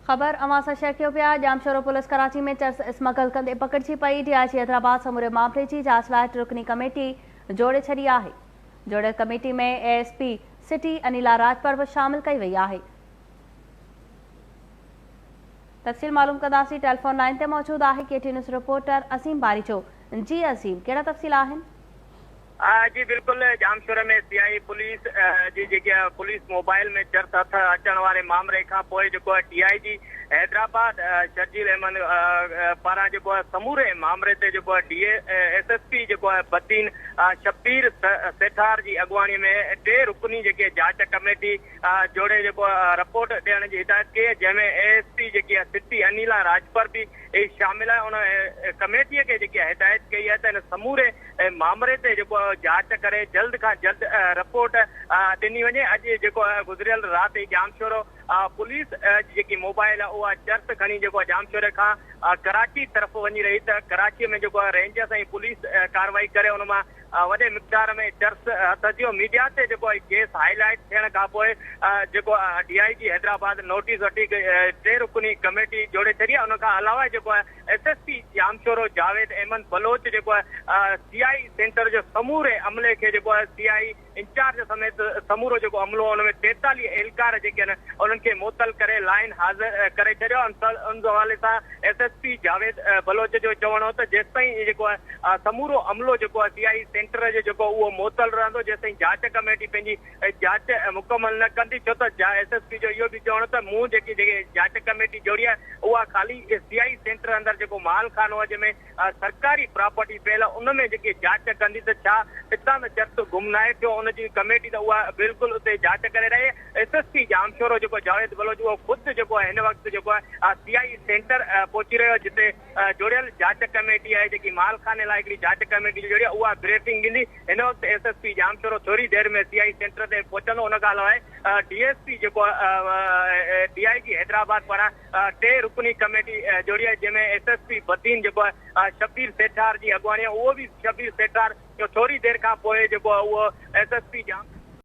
خبر اوهان سان شيئر ڪيو پيا ڄامشورو پوليس ڪراچي ۾ چرس اسمگل ڪندي پڪڙجي پئي ڊي آء جي حيدرآباد سموري معاملي جي جاچ لاء ٽي رڪني ڪميٽي جوڙي ڇڏي آهي جوڙيل committee ۾ A S P city Anila Rajpar به شامل ڪئي وئي آهي تفصيل معلوم ڪنداسين ٽيليفون لائن تي موجود آهي K T news reporter Azeem Baricho جي عظيم ڪهڙا تفصيل آهن جي بلڪل ڄامشوري ۾ سيائي پوليس جي جيڪي پوليس موبائل ۾ چرس هٿ اچڻ واري مامري کان پوء جيڪو ٽي آء جي حيدرآباد شرجيل احمد پاران جيڪو سموري مامري تي جيڪو ڊي ايس ايس پي جيڪو بدين شبير سيٺار جي اڳواڻي ۾ ٽي رڪني جيڪي جاچ ڪميٽي جوڙي جيڪو رپورٽ ڏيڻ جي هدايت ڪئي جنهن ۾ اي ايس پي جيڪي سٽي انيلا راڄپر به شامل آهي ان ڪميٽي کي جيڪي هدايت ڪئي آهي ته هن سموري معامري تي جيڪو جاچ ڪري جلد کان جلد رپورٽ ڏني وڃي اڄ جيڪو گذريل رات ئي ڄامشورو پوليس جي جيڪي موبائل اها چرس کڻي جيڪو ڄامشوري کان ڪراچي طرف وڃي رهي ته ڪراچي ۾ جيڪو رينجرس ۽ پوليس ڪارروائي ڪري ان مان وڏي مقدار ۾ چرس هٿ اچيو ميڊيا تي جيڪو ڪيس هائي لائيٽ ٿيڻ کان پوء جيڪو D I G Hyderabad notice وٺي ٽي رڪني ڪميٽي جوڙي ڇڏي ان کان علاوه جيڪو S S P Jamshoro Javed Ahmed Baloch جيڪو آهي سي آء اي سينٽر جو سموري عملي کي جيڪو آهي سي آء اي انچارج سميت سمورو جيڪو عملو ان ۾ ٽيتاليهه اهلڪار جيڪي آهن انهن کي معطل ڪري لائين حاضر ڪري ڇڏيو ان حوالي سان S S P Javed Baloch جو چوڻ هو ته جيستائين جيڪو آهي سمورو عملو جيڪو آهي سي آء اي سينٽر جو جيڪو اهو معطل رهندو جيستائين جاچ ڪميٽي پنهنجي ۽ جاچ مڪمل نه ڪندي ڇو ته جا ايس ايس پي جو اهو به چوڻ ته مون جيڪي جيڪي جاچ ڪميٽي جوڙي آهي اها خالي ايس بي آئي سينٽر اندر جيڪو مال خانو آهي جنهن ۾ سرڪاري پراپرٽي پيل آهي ان ۾ جيڪي جاچ ڪندي ته ڇا اتان ته چرس گم ناهي ٿيو ان جي ڪميٽي ته اها بلڪل اتي جاچ ڪري رهي آهي ايس ايس پي ڄامشورو جيڪو جاويد بلوچ اهو خود جيڪو آهي هن وقت جيڪو آهي سي آئي اي سينٽر پهچي رهيو آهي جتي جوڙيل جاچ ڪميٽي آهي جيڪي مال خاني لاء هڪڙي جاچ ڪميٽي جوڙي آهي اها بريفنگ ڏني هن وقت ايس ايس پي ڄامشورو ٿوري دير ۾ سي آء اي سينٽر تي پهچندو ان کان علاوه ڊي ايس پي جيڪو ڊي آء جي حيدرآباد پاران ٽي رڪني ڪميٽي جوڙي آهي جنهن ۾ ايس ايس پي بدين جيڪو آهي شبير سيٺار جي اڳواڻي اهو به شبير سيٺار ٿوري دير کان پوء جيڪو اهو ايس ايس پي ڄامشورو